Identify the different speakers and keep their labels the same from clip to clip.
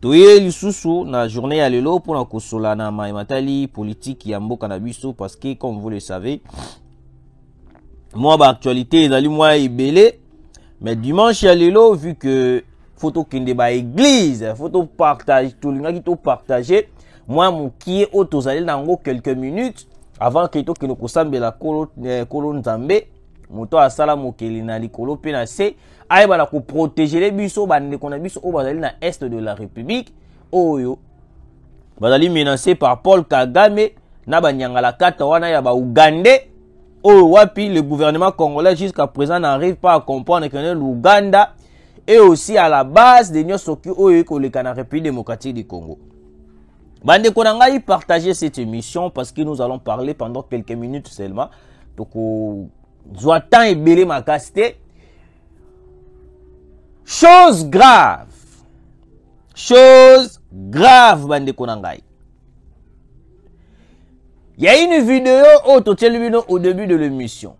Speaker 1: toye lisusu na journée ya lelo mpona kosola na mai matali politiki ya mboka na biso parce que comme vous le savez mwa baactualité ezali mwa ebele mais dimanche ya lelo vu que fo tokende baeglize fo topartage tolingaki topartage mwa mokie oyo tozali na yango quelques minutes avant ke tokende kosambela kolo, eh, kolo nzambe moto asala mokeli na likolo mpe na se ayebana koprotegele biso bandeko na biso oyo bazali na est de la république oyo bazali menance par paul kagame na banyangalakata wana ya baougandais oyo wapi le gouvernement congolais jusqu'à présent n'arrive pas à comprendre que ne l'ouganda est aussi à la base de nyonso ki oyo eki koleka na république démocratique du congo bandeko na ngai partager cette émission parce que nous allons parler pendant quelques minutes seulement toko zwa temps ebele makasi te chose grave chose grave bandeko na ngai ya une video oyo totyeli bino au début de l'émission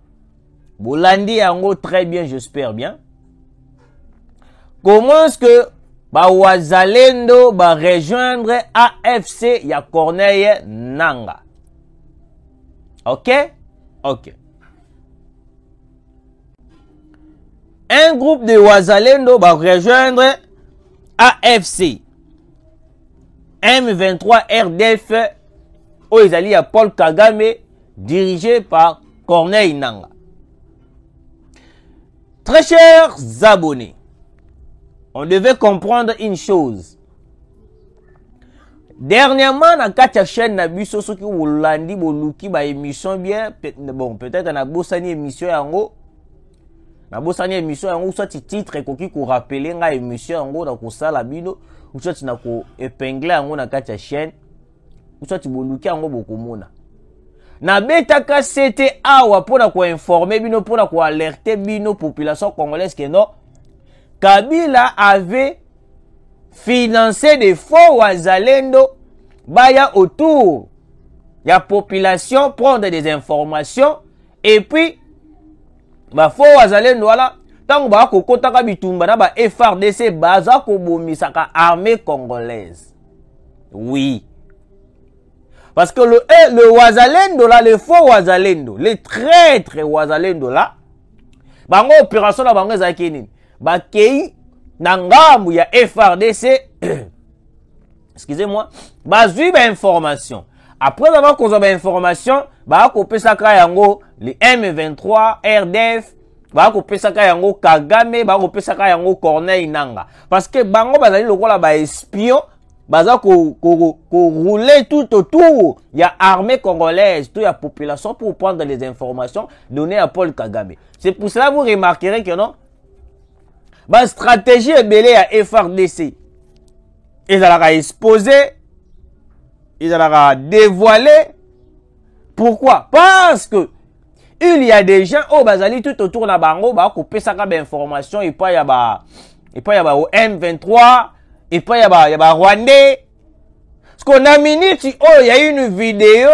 Speaker 1: bolandi yango très bien j'espère bien comment est-ce que bawazalendo barejoindre afc ya corneille nanga ok ok un groupe de wazalendo barejoindre afc m23 rdf oyo ezali ya paul kagame dirige par corneille nanga Très chers abonnés, on devait comprendre une chose. Dernièrement, na kati ya chaîne na biso soki bolandi boluki ba émission bien bon peut-être na bosani émission yango na bosani émission yango soit titre ekoki ko rappeler nga émission yango na kosala bino soit na ko épingler yango na kati ya chaîne soit boluki yango bokomona nabetaka sete awa mpo na koinforme bino mpo na koalerte bino population congolaise ke non kabila avait financé de faux wazalendo baya autour ya population prendre des informations et puis bafaux wazalendo wana ntango baya kokotaka bitumba na ba frdc baza kobomisaka armée congolaise Oui. Parce que le, eh, le Wazalendo là, le faux Wazalendo, le traître Wazalendo là, bango opération na bango ezalaki nini bakei na ngambu ya frdc excusez-moi bazwi bainformation après avoir kozwa bainformation bakopesaka yango le m23 rdf bakopesaka yango kagame bakopesaka yango corneille nanga parce que bango bazali lokola baespion baza korouler ko, ko, ko tout autour ya armée congolaise to ya population pour prendre les informations données à paul kagame c'est pour cela vous remarquerez que non bastratégie ebele ya frdc ezalaka expose ezalaka dévoile pourquoi parce que il y a des gens oyo bazali tout autour na bango bakopesaka bainformation epai ya ba epai ya ba m23 epai ya ba, ya ba rwandais parceque na minute oyo ya une video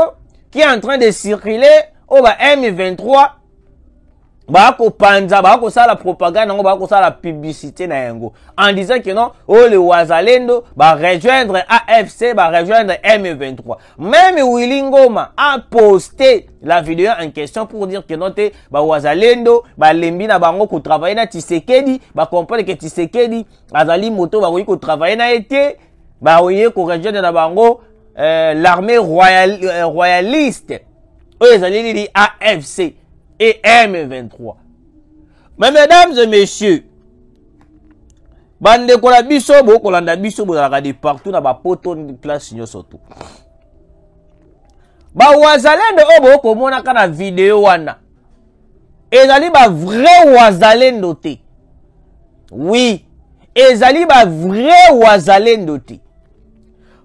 Speaker 1: qui est en train de circuler oyo ba m23 bakopanza bakosala propagande yango bakosala publicité na yango en disant que non oyo le wazalendo barejoindre afc barejoindre m23 Meme Willy Ngoma a posté la vidéo en question pour dire que non te ba wazalendo ba lembi na bango ko travailler na Tshisekedi ba comprendre que Tshisekedi azali moto ba ko travailler na été ba oye ko rejoindre na bango euh, l'armée royale euh, royaliste oyo ezali nini AFC et M23 mais mesdames et messieurs bandeko na biso bokolanda biso bozalaka de partout na bapoto place nyonso tu bawazalendo oyo bokomonaka na video wana ezali bavrai wazalendo te wi ezali bavrai wazalendo te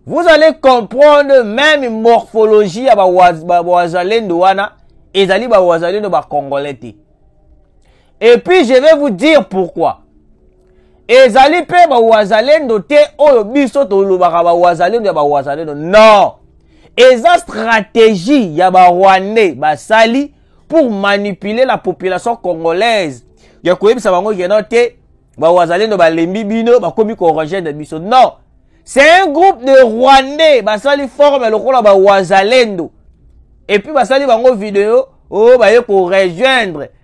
Speaker 1: vous allez comprendre meme morphologie ya bawazalendo wana ezali bawazalendo bacongolais te et puis je vais vous dire pourquoi ezali mpe bawazalendo te oyo biso tolobaka bawazalendo ya bawazalendo non eza stratégie ya barwandais basali pour manipuler la population congolaise ya koyebisa bango keno te bawazalendo balembi bino bakomi korogene biso non c'est un groupe de rwandais basali forme lokola bawazalendo epuis basali bango video oyo oh, baye korejoindre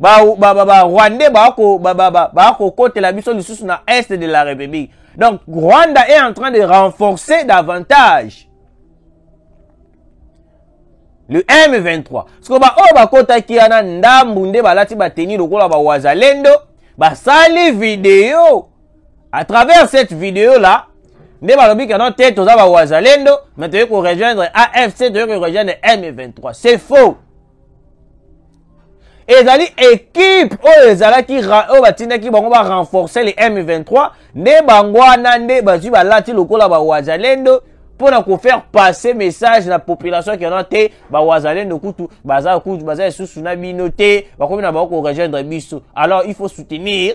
Speaker 1: barwandais bakokotela biso lisusu na est de la république donc rwanda est en train de renforcer davantage le m23 siko baoyo bakotaki wana ndambu nde balati bateni lokola bawazalendo basali video à travers cette video là nde balobi keno te toza bawazalendo mais toyei korejoindre afc toyei korejoindre m23 c'est faux ezali ekipe oyo ezalaki oyo batindaki bango ba renforcer le m23 nde bango wana nde bazwi balati lokola bawazalendo mpo na kofaire passer message na population ke wana te bawazalendo kutu baza kutu baza lisusu na bino te bakomi na bango korejoindre biso alors il faut soutenir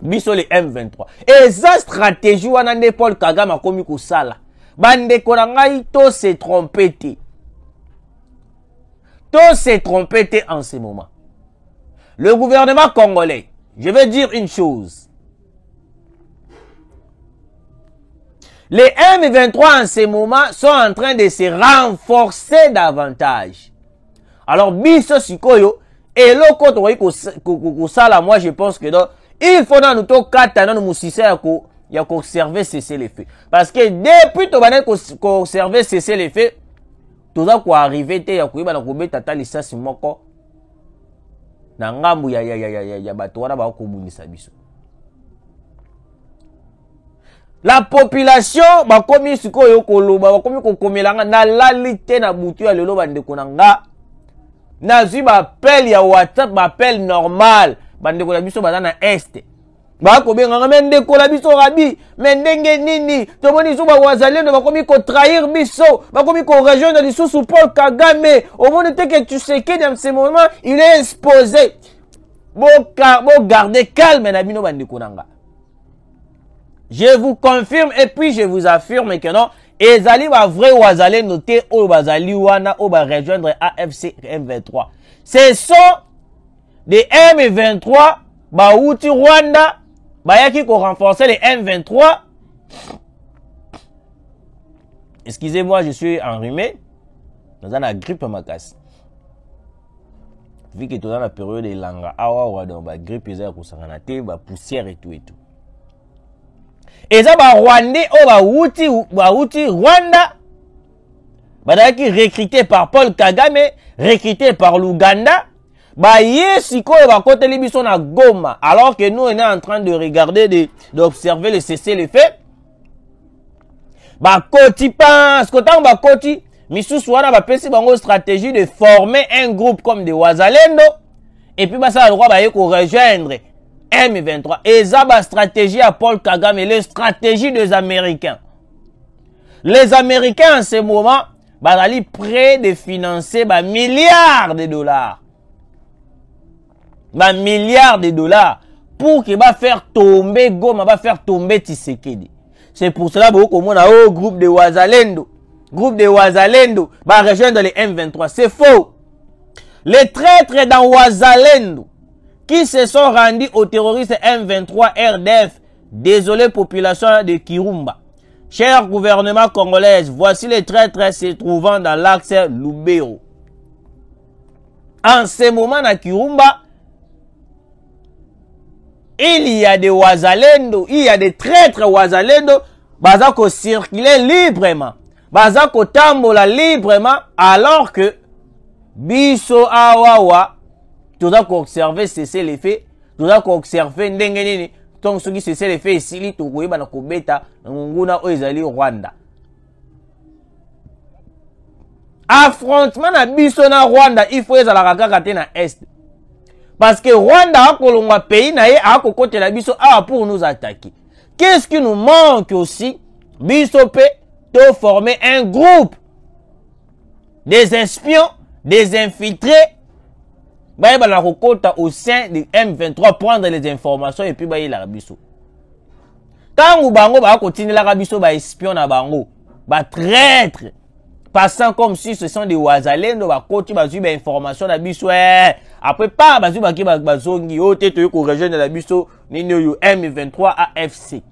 Speaker 1: biso le m23 eza stratégie wana nde paul kagame akomi kosala bandeko na ngai to se trompe te To se tromper te en ce moment. Le gouvernement congolais, je vais dire une chose. Les M23 en ce moment sont en train de se renforcer davantage. Alors biso sikoyo eloko tokoki kos- ko- ko- kosala moi je pense que donc il faut nanu tokata nanu mosisa ya ko ya koserve cessez le feu parce que depuis tobandaki kos- koserve cessez le feu toza koarrive te ya koyeba na kobeta ata lisasi moko na ngambo ya, ya, ya, ya, ya, ya bato wana bakobundisa biso la population bakomi sikoyo koloba bakomi kokomela nga nalali te na butu ya lelo bandeko na nga nazwi bapele ya whatsapp bapele normal bandeko na biso baza na este bakobenganga me ndekola biso rabi me ndenge nini tomoni zuba wazalendo bakomi kotrahir biso bakomi korejoindre lisusu paul kagame omoni te ke tshisekedi ya ce moment il est exposé bogarde bo calme na bino bandeko na nga je vous confirme et puis je vous affirme que non ezali bavrai wazalendo te oyo bazali wana oyo barejoindre afc m23 ce sont de M23 bawuti Rwanda bayaki ko renforcer les M23 excusez-moi je suis enrhumé naza na grippe makasi vu que toza na periode elanga awawa donc bagrippe eza ya kosangana te bapoussière etu etu eza barwandais oyo bawuti bawuti rwanda bazalaki recruté par paul kagame recruté par l'ouganda baye sikoyo bakoteli biso na goma alors que nous on est en train de regarder de, d'observer le cesser le fait bakoti parce que ntango bakoti misusu wana bapesi bango stratégie de former un groupe comme de wazalendo epuis basala lokwa baye korejoindre m23 eza bastratégie ya paul kagame le stratégie des américains les américains en ce moment bazali près de financer ba milliards de dollars ba milliards de dollars pour que ba faire tomber goma ba faire tomber tisekedi c'est pour cela bokoki komona o oh, groupe de wazalendo groupe de wazalendo ba rejoindre les m23 c'est faux les traîtres dans wazalendo qui se sont rendus aux terroristes m23 rdf désolé population de kirumba Cher gouvernement congolaise, voici les traîtres se trouvant dans l'axe Lubero. En ce moment na Kirumba, il y a des wazalendo, il y a des traîtres wazalendo, baza ko circuler librement, baza ko tambola librement, alors que biso awawa, toza ko observer cessez les faits, toza koobserve ndenge nini ntongo soki sesele efe esili tokoyeba na kobeta nguna oyo ezali rwanda affrontement na biso na rwanda il faut ezalaka kaka te na est parce que rwanda akolongwa pays na ye akokotela biso awa pour nous attaquer qu'est ce qui nous manque aussi biso mpe toforme un groupe des espions des infiltrés bayebana kokota au sein de m23 prendre les informations epuis bayelaka biso ntango bango baya kotindelaka biso baespion na bango batraitre passant comme si ce sont des wazalendo bakoti bazwi bainformation na biso eh. après pa bazwi bake bazongi oyo te toyei korejoindre na biso nini oyo m23 afc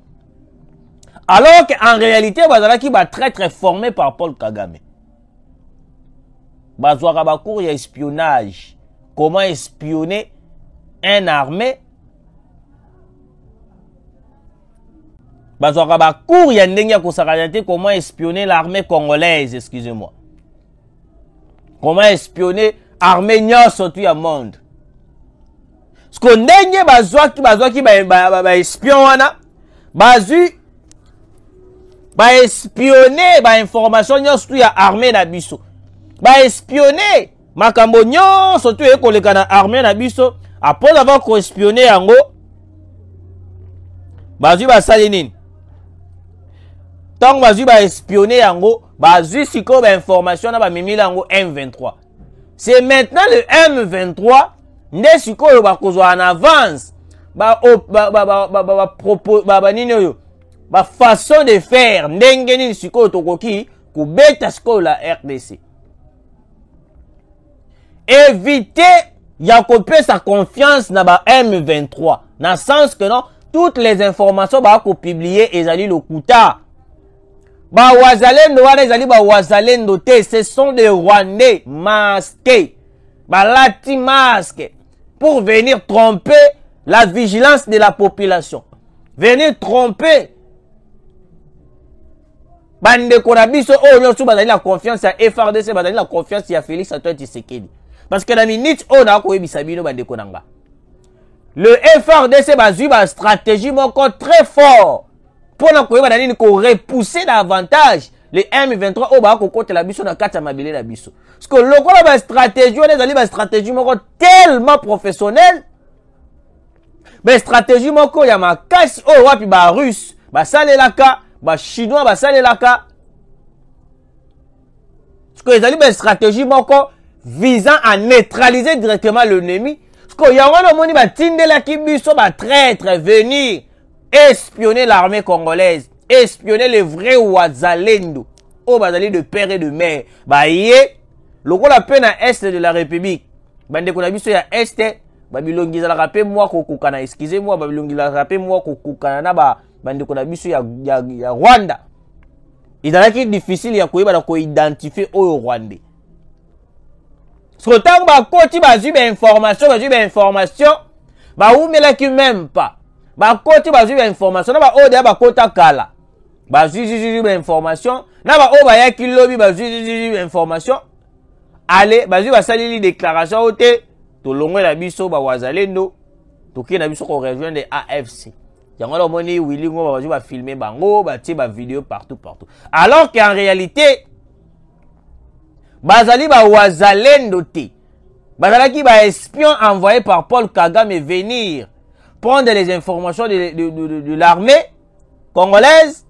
Speaker 1: alors que en réalité bazalaki batraitre formé par paul kagame bazwaka bacours ya espionnage comment espionner un armée bazwaka bacours ya ndenge ya kosakana te comment espionner l'armée congolaise excusez moi comment espionner armée nyonso tu ya monde siko ndenge bazwaki bazwaki baespion ba, ba, ba wana bazwi baespionne bainformation nyonso tu ya armée na biso baespionne makambo nyonso tu eye koleka na armée na biso apres avoir koespionne yango bazwi basali nini ntango bazwi baespionne yango bazwi sikoyo bainformation na bamemeli yango m23 c'est maintenant le m23 nde sikoyo bakozwa en avance banini oyo bafaçon de faire ndenge nini sikoyo tokoki kobeta sikoyo la rdc éviter ya kopesa confiance na ba m23 na sens que non toutes les informations bakopublie ezali lokuta bawazalendo wana ezali bawazalendo te ce sont des rwandais masqués balati masque pour venir tromper la vigilance de la population venir tromper bandeko na biso oyo nyonso bazali na confiance ya frdc bazali na confiance ya félix antoine tshisekedi parce que na minute oyo nakoyebisa bino bandeko na nga le frdc bazwi bastratégie moko très fort mpo na koyeba na nini korepousser davantage le m23 oyo baya kokotela biso na kati ya mabele na biso ceke lokola bastratégie wana ezali bastratégie moko tellement professionnelle bastratégie moko ya makasi oyo wapi barusse basalelaka bachinois basalelaka sikoyo ezali bastratégie moko visant à neutraliser directement l'ennemi sikoyo yango wana omoni batindelaki biso batraitre venir espionner l'armée congolaise espionner les vrais wazalendo oyo bazali de père et de mère baye lokola mpe na est de la république bandeko na biso ya est babilongi ezalaka mpe mwa kokokana excuse moi babilongi ezalaka mpe mwa kokokana na bandeko na biso ya, ya, ya rwanda ezalaki difficile ya koyeba na koidentifie oyo rwandais soko ntango bakoti bazwi bainformation bazwi bainformation bawumelaki meme pas bakoti bazwi bainformation na baoyo deya bakota kala bazwi zizizwi bainformation na baoyo bayaki lobi bazwi zizizwi bainformation ale bazwi basaleli déclaration oyo te tolongwe na biso bawazalendo tokei na biso korejoindre afc yango wana omoni willi ngoma bazo bafilme bango batie bavideo partout partout alors que en réalité bazali bawazalendo te bazalaki baespion envoyé par paul kagame venir prendre les informations de, de, de, de, de l'armée congolaise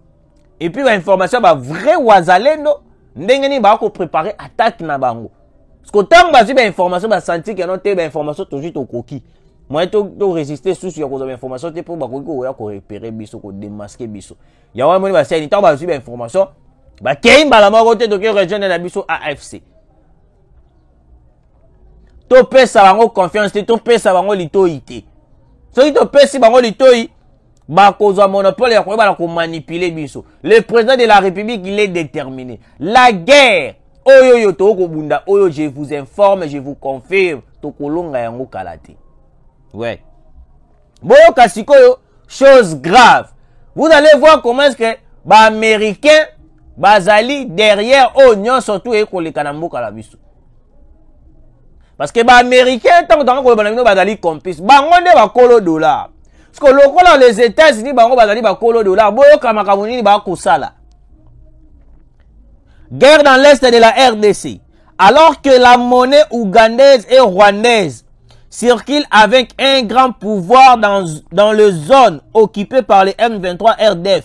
Speaker 1: et puis bainformation ya bavrai wazalendo ndenge nini baa koprépare attaque na bango parceke ntango bazwi bainformation basanti keno te bainformation tozwi tokoki moye toresiste susu ya kozwa bainformation te mpo bakoki koya korepere biso kodemaske biso yango amoni baseni ntango bazwi bainformation bakei mbala moko te toki rejoindre na biso afc topesa bango confiance te topesa bango litoi te soki topesi bango litoi bakozwa monopole ya koyeba na komanipule biso le président de la république il est déterminé la guerre oyo oyo tokoki kobunda oyo je vous informe je vous confirme tokolonga yango kala te ouais. boyoka sikoyo chose grave vous allez voir comment est ce que baaméricain bazali derrière oyo nyonso tu eye koleka na mboka na biso parce que baaméricain ntango tanga koloba na bino bazali complice bango nde bakolo dollar siko lokola les états-unis bango bazali bakolo dollar boyoka makambo nini bakosala guerre dans l'est de la rdc alors que la monnaie ougandaise et rwandaise circule avec un grand pouvoir dans, dans les zones occupées par les M23 RDF.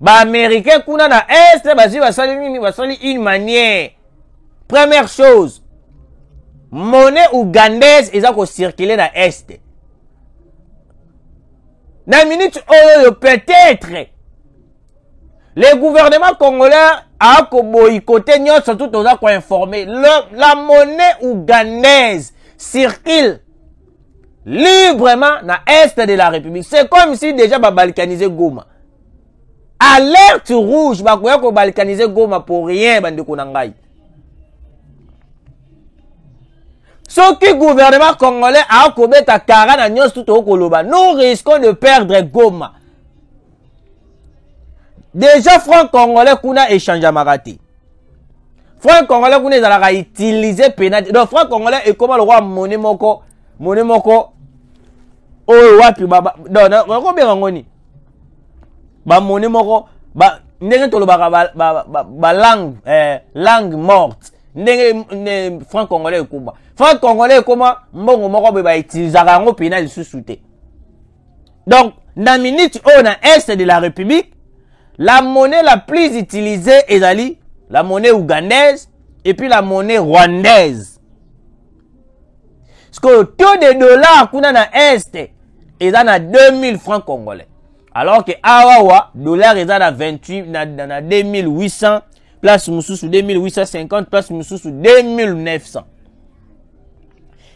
Speaker 1: baaméricain kuna na este bazwi basali nini basali une manière première chose monnaie ougandaise eza kocircule na este na minute oyo oyo peut-être le gouvernement congolais akoboyikote nyonso tu toza koinforme la monnaie ougandaise circule librement na est de la république c'est comme si déjà babalkanise goma alerte rouge bakoya kobalkanise goma pour rien bandeko na ngai soki gouvernement congolais akobeta kara na nyonso tu tokoki koloba nous risquons de perdre goma déjà franc congolais kuna echangeamaka te franc congolais kuna ezalaka utilise pena te donc franc congolais ekoma lokola mone moko mone moko oyo wapi nakobenga yango nini bamone moko ba, ndenge tolobaka balangue ba, ba, ba langue, eh, langue morte ndenge franc congolais ekoma franc congolais ekoma mbongo moko boye bautilisaka yango pena lisusu te donc na minute oyo na est de la république la monnaie la plus utilisée ezali la monnaie ougandaise et puis la monnaie rwandaise sikoyo taux de dollar kuna na est eza na 2000 francs congolais alors que awawa dollar eza na 28 na, na, na 2800 place mosusu 2850 place mosusu 2900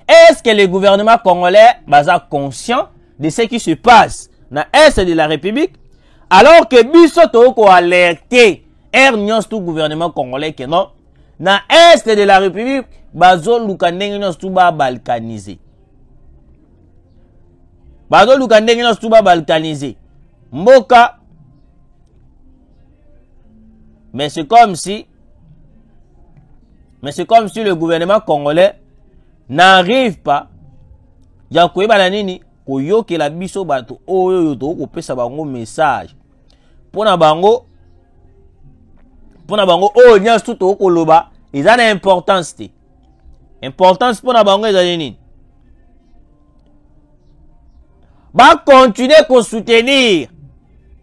Speaker 1: est ce que le gouvernement congolais baza conscient de ce qui se passe na est de la république alors que biso tokoki koalerte aire nyonso tu gouvernement congolais ke non na est de la république bazoluka ndenge nyonso tu babalkanise bazoluka ndenge nyonso tu babalkanise mboka mais c'est comme si mais c'est comme si le gouvernement congolais n'arrive pas ya koyeba na nini koyokela biso bato oyo oyo tokoki kopesa bango message mpo na bango mpo na bango oyo nyonso tu tokoki koloba eza na importance te importance mpo na bango ezali nini bakontinue kosoutenir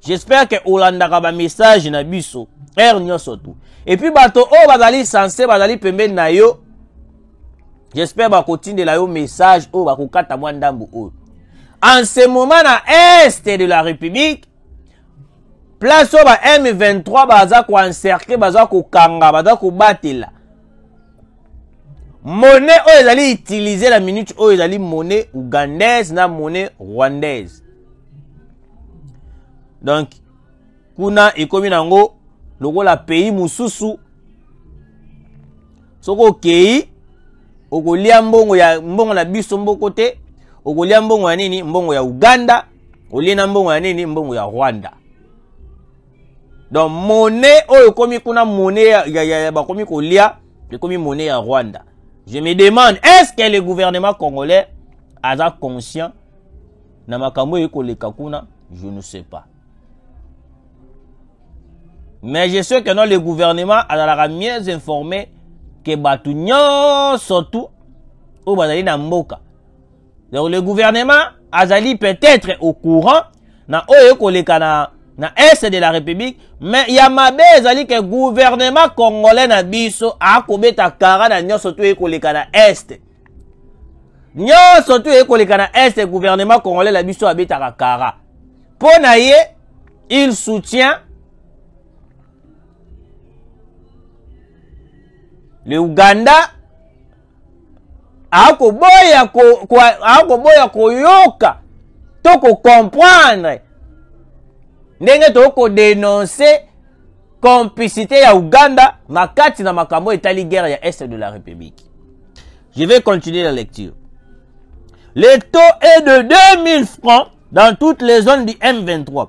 Speaker 1: j'espère ke olandaka bamessage na biso heure nyonso tu epuis bato oyo bazali sense bazali pembeni na yo j'espère bakotindela yo message oyo bakokata mwa ndambu oyo en ce moment na est de la république place oyo ba m23 baza koencercle baza kokanga baza kobatela monnaie oyo ezali utiliser na minute oyo ezali monnaie ougandaise na monnaie rwandaise donc kuna ekomi na yango lokola pays mosusu soki okei okolia mbongo ya mbongo na biso mboko te okolia mbongo ya nini mbongo ya uganda olie na mbongo ya nini mbongo ya rwanda donc monnaie oyo ekomi kuna monnaie ya, ya, ya, ya bakomi kolia ekomi monnaie ya rwanda je me demande est ce que le gouvernement congolais aza conscient na makambo oyo ekoleka kuna je ne sais pas mais je sais que non le gouvernement azalaka mieux informé ke bato nyonso tu oyo bazali na mboka donc le gouvernement azali peut-être au courant na oyo ekoleka na, na est de la république mais ya mabe ezali ke gouvernement congolais na biso akobeta kara na nyonso to ekoleka na est nyonso to ekoleka na est gouvernement congolais na biso abetaka kara mpo na ye il soutient le uganda akoboya akoboya koyoka to kocomprendre ndenge tokoki kodenonse complicité ya uganda na kati na makambo etali guerre ya est de la république je vais continuer la lecture le taux est de 2000 francs dans toutes les zones du m23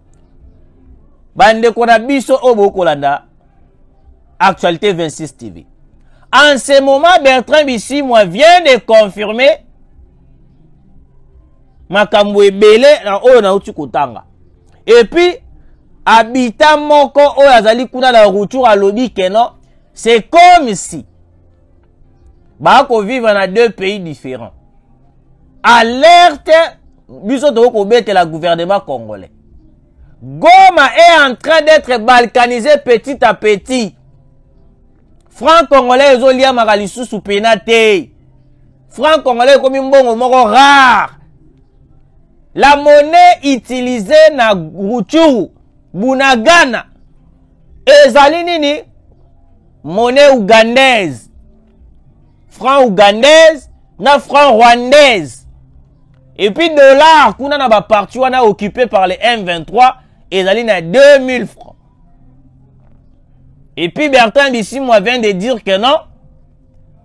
Speaker 1: bandeko na biso oyo bokolanda actualité 26 tv en ce moment bertrand bisimwa vient de confirmer makambo ebele na oyo nauti kotanga epuis abita moko oyo azali kuna na retour alobi keno c'est comme si bako vivre na deux pays différents alerte biso tokoki kobetela gouvernement congolais goma est en train d'être balkanisé petit à petit franc congolais ezoliamaka lisusu pena te franc congolais ekomi mbongo moko rare la monnaie utilisée na ruchuru bunagana ezali nini monnaie ougandaise franc ougandaise na franc rwandaise epuis dollar kuna na baparti wana occupe par le m23 ezali na 2000 francs epuis bertin bisimwa vient de dire que non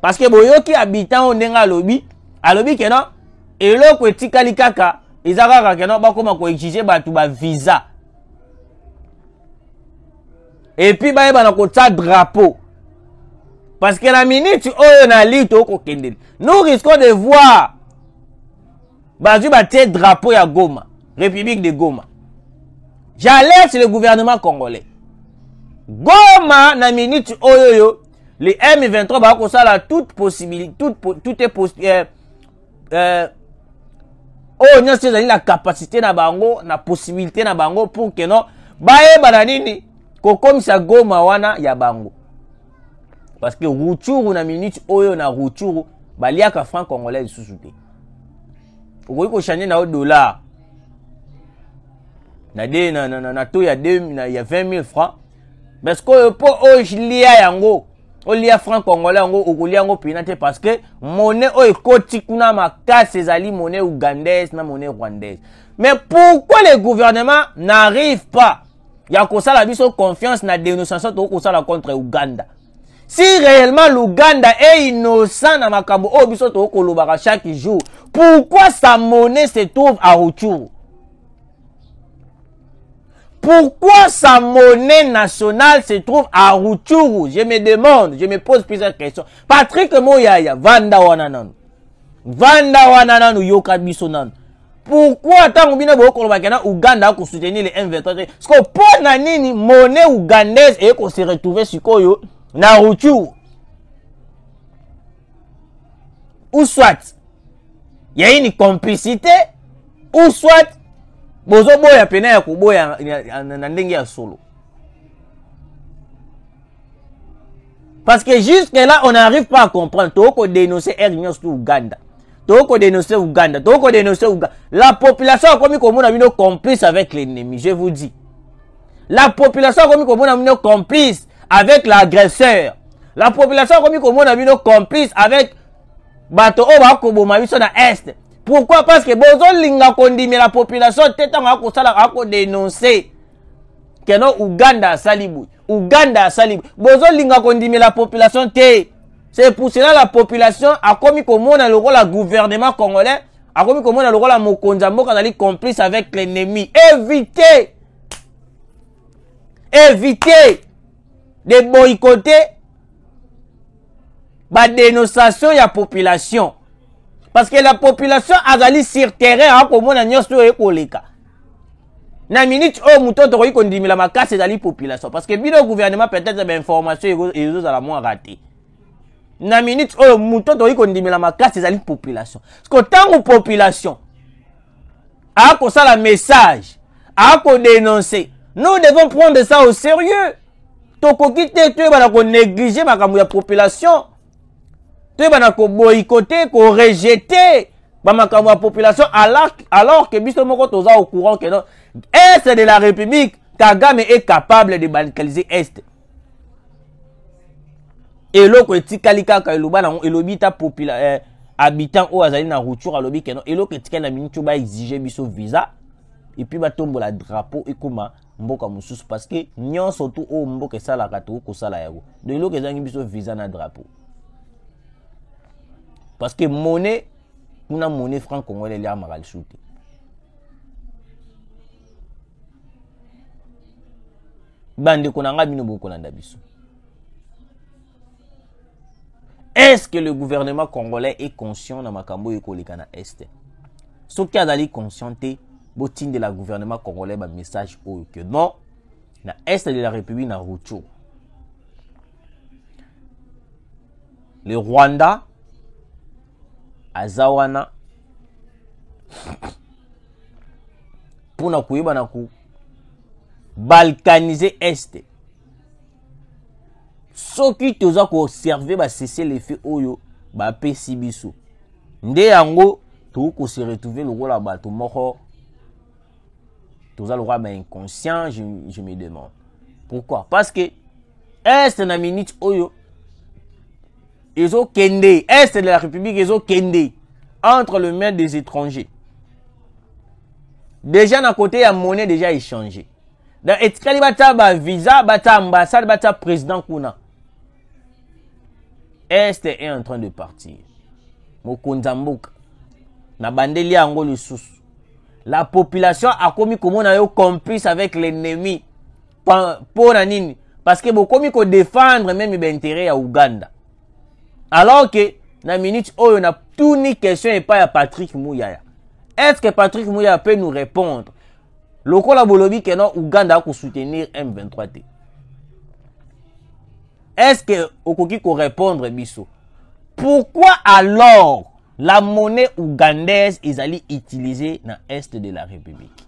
Speaker 1: parce que boyoki habitant oyo ndenge alobi alobi ke non eloko etikali kaka eza kaka ke non bakóma koexige bato bavisa epuis bayeba na kotya drapeau parce que na minute oyo na lii tokokende nous risquons de voir bazwi batie drapeau ya goma république de goma j'alerte le gouvernement congolais goma na minute oyo yo les M23 ba ko sala toute possibilité toute tout est possible euh, euh, oyo nyonso ezali na capacité na bango na possibilité na bango pour que non bayeba na nini kokomisa goma wana ya bango parce que ruchuru na minute oyo na ruchuru baliaka franc congolais lisusu te okoki kochange na yo dollar na, de, na, na, na, na to ya, 2, na, ya 20 000 francs mais sikoyo mpo olia yango olia franc congolais yango okolia yango mpena te parce que mone oyo ekoti kuna makasi ezali mone ougandaise na mone rwandaise mais pourquoi le gouvernement n'arrive pas ya kosala biso confiance na dénonciation tokoki kosala contre ouganda si réellement l'ouganda est innocent na makambo oyo biso tokoki kolobaka chaque jour pourquoi sa monnaie se trouve à rutshuru Pourquoi sa monnaie nationale se trouve à Rutshuru Je me demande, je me pose plusieurs questions. Patrick Moyaya, Vanda Wananan. Vanda Wananan ou Yoka Bisonan. Pourquoi tant bino bokolobaka na Ouganda ko soutenir les M23 Parce que mpo na nini monnaie ougandaise eye ko se retrouver sikoyo na Rutshuru ou soit ya une complicité ou soit bozoboya pena ya koboya na ndenge ya solo parce que jusque là on n'arrive pas à comprendre tokoki kodénoncer air union surtout ouganda tokoki kodénoncer ouganda tokoki kodénoncer ouganda la population akomi komona bino complice avec l'ennemi je vous dis la population akomi komona bino complice avec l'agresseur la population akomi komona bino complice avec bato oyo bakoboma biso na est pourquoi parce que bozolinga kondimela population te ntango akosala akodenonse keno uganda asali boye uganda asali boye bozolinga kondimela population te c'est pour cela la population akomi komona lokola gouvernement congolais akomi komona lokola mokonzi ya mboka azali complice avec l'ennemi éviter éviter de boycotter badénonciation ya population parce que la population azali sur terrain akomona nyonso oyo ekoleka na minute oyo moto oyo tokoki kondimela makasi ezali population parce que bino gouvernement peut-être bainformation ezozala mwa rate na minute oyo moto oyo tokoki kondimela makasi ezali population parce que ntango population akosala message akodenonce nous devons prendre ça au sérieux tokoki te toyebana konéglige makambo ya population toyebana koboyikote korejete bamakambo ya population alors que biso moko toza au courant que non est de la république kagame est capable de balkaliser est eloko etikali kaka eloba nango elobi ta popula eh, habitant oyo azali na rupture alobi keno eloko etikali na minute oyo baexige biso visa epuis batombola drapeau ekoma mboka mosusu parce que nyonso tu oyo mboka esalaka tokoki kosala yango donc eloko ezangi biso visa na drapeau parce que monnaie kuna monnaie franc congolais eliamaka lisusu te bandeko na ngai bino bokolanda biso est ce que le gouvernement congolais est conscient na makambo oyo ekoleka na este soki azali conscient te botindela gouvernement congolais bamessage oyo ke non na est de la république na rucho le rwanda aza wana mpo na koyeba na balkanise este soki toza koserve basese lefe oyo bapesi biso nde yango tokoki kose retrouve lokola bato moko toza lokola ba inconscient je, je me demande pourquoi parce que este na minute oyo ezo kende est de la république ezo kende entre le main des étrangers déjà na côté ya monnaie déjà échangé donc etikali batia bavisa batia ambassade batia président kuna est est en train de partir mokonzi ya mboka nabandeli yango lisusu la population akomi komona yo complice avec l'ennemi mpo na nini parce que bokomi kodefendre meme baintere ya uganda alors que na minute oyo na tuni question epai ya patrick muyaya est ce que patrick muyaya peut nous répondre lokola bolobi ke no uganda akosoutenir m23 te est ce que okoki korépondre biso pourquoi alors la monnaie ougandaise ezali utilisée na est de la république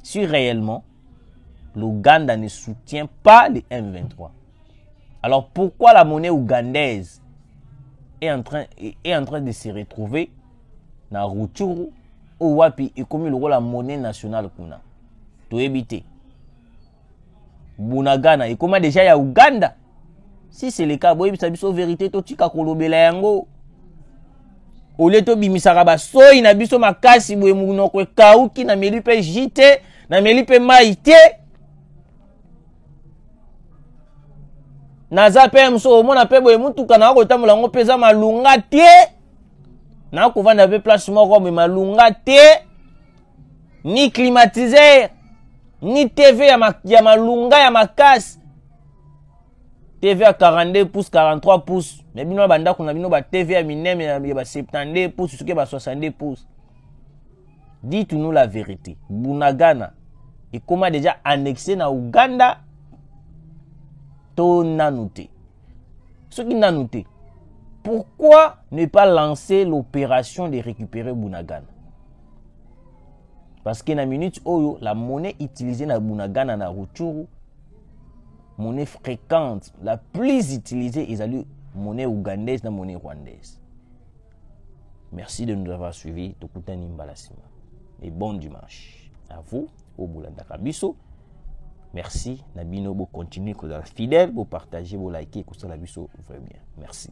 Speaker 1: si réellement L'Ouganda ne soutient pas les M23. Alors pourquoi la monnaie ougandaise est en train, est en train de se retrouver na Rutshuru ou wapi ekomi lokola monnaie nationale kuna toyebi te bunagana ekoma deja ya uganda si c'est le cas boyebisa biso verité totika kolobela yango olie tobimisaka basoyi na biso makasi boye monoko ekauki nameli mpe ji te nameli mpe mai te naza mpe mosu omona mpe boye motuka na kotambola yango mpe eza malunga te nakovanda mpe place moko boye malunga te ni climatiseur ni tv ya, ma, ya malunga ya makasi tv ya 42 pouce 43 pouce me bino na bandako na bino ba tv ya minene ya ba 72 pouce soki ba 62 pouce dites nous la vérité bunagana ekoma deja annexe na uganda to nanu te soki nanu te pourquoi ne pas lancer l'opération de récupérer bunagana parce que na minute oyo la monnaie utilisée na bunagana na ruchuru monnaie fréquente la plus utilisée ezali monnaie ougandaise na monnaie rwandaise merci de nous avoir suivi tokutani mbala nsima et bon dimanche à vous oyo bolandaka biso merci na bino bocontinue kozala fidèle bopartage bolike kosala biso vrai bien merci